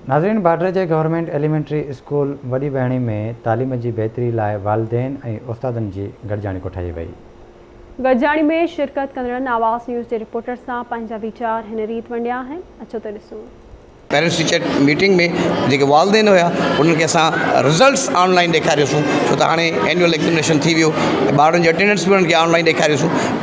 ناظرين باڊر جي گورنمينٽ ايليمينٽري اسڪول وڏي بهڻي ۾ تعليم جي بهتري لاء والدين ۽ استادن جي گڏجاڻي ڪوٺائي وئي. گڏجاڻي ۾ شرڪت ڪندڙن آواز نيوز جي رپورٽر سان پنهنجا ويچار هن ريت ونڊيا آهن اچو ته ڏسون. پيرنٽس ٽيچر ميٽنگ ۾ جيڪي والدين هيا انهن کي اسان رزلٽس آن لائين ڏيکاريوسون ڇو ته هاڻي اينيول ايگزامينيشن ٿي ويو ٻارن جي اٽينڊنس به انهن کي آن لائين ڏيکاريوسون.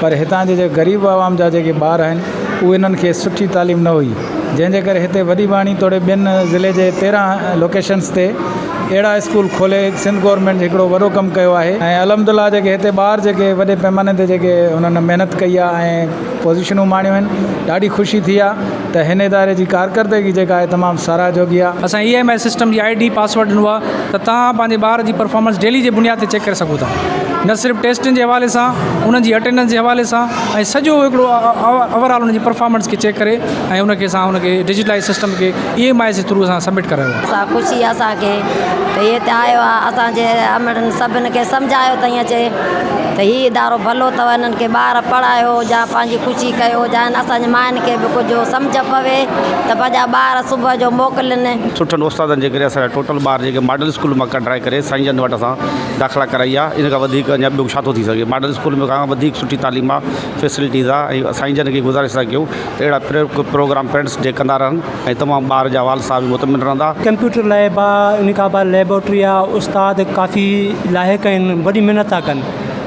پر هتان جي جيڪي غريب عوام جا جيڪي ٻار آهن اهي انهن کي سٺي تعليم نه هئي جنهن جي ڪري هتي وڏي ٻاڻي توڙي ٻين ضلعي جي تيرهن لوڪيشنس تي اهڙا اسڪول کولي سنڌ گورنمينٽ هڪڙو وڏو ڪم ڪيو آهي ۽ الحمد الله جيڪي هتي ٻار جيڪي وڏي پئماني تي جيڪي انهن محنت ڪئي آهي ۽ پوزيشنون ماڻيون آهن ڏاڍي خوشي ٿي آهي ته هن اداري جي ڪارڪردگي جيڪا آهي تمام ساراهه جوڳي آهي. اسان اي ايم ايس سسٽم جي آئي ڊي پاسورڊ ڏنو آهي ته توهان پنهنجي ٻار جي پرفارمنس ڊيلي جي بنياد تي چيڪ ڪري سگهو ٿا نه صرف ٽيسٽن جي حوالي سان انهن جي اٽينڊنس جي حوالي سان ۽ سڄو هڪڙو اوور آل انهن جي پرفارمنس کي چيڪ ڪري ۽ ان کي اسان ان کي ڊجيٽلائيز سسٽم کي اي ايم آئي جي ٿرو اسان سبمٽ ڪرايو آهي. سا خوشي آهي اسان کي ته هي هتي آيو آهي اسان جي امڙن سڀن کي سمجهايو تائين اچي ته هي ادارو ڀلو اٿو انهن کي ٻار پڙهايو جا پنهنجي خوشي ڪيو جا اسان جي ماين کي به ڪجهه سمجهه پوي ته پنهنجا ٻار صبح جو موڪلين. سٺن استادن جي ڪري اسان جا ٽوٽل ٻار جيڪي ماڊل اسڪول مان ڪڍرائي ڪري سائين جن وٽ اسان داخلا ڪرائي آ ان کان وڌيڪ اڃا ٻيو ڇا ٿو ٿي سگهي ماڊل اسڪول ۾ کان وڌيڪ سٺي تعليم آ فيسلٽيز آ ۽ سائين جن کي گذارش ٿا ڪيون ته اهڙا پروگرام پيرنٽس ڊي ڪندا رهن ۽ تمام ٻار جا والد صاحب به مطمئن رهندا. ڪمپيوٽر ليب آ ان کان بعد ليبارٽري آ استاد ڪافي لائق آهن وڏي محنت ٿا ڪن.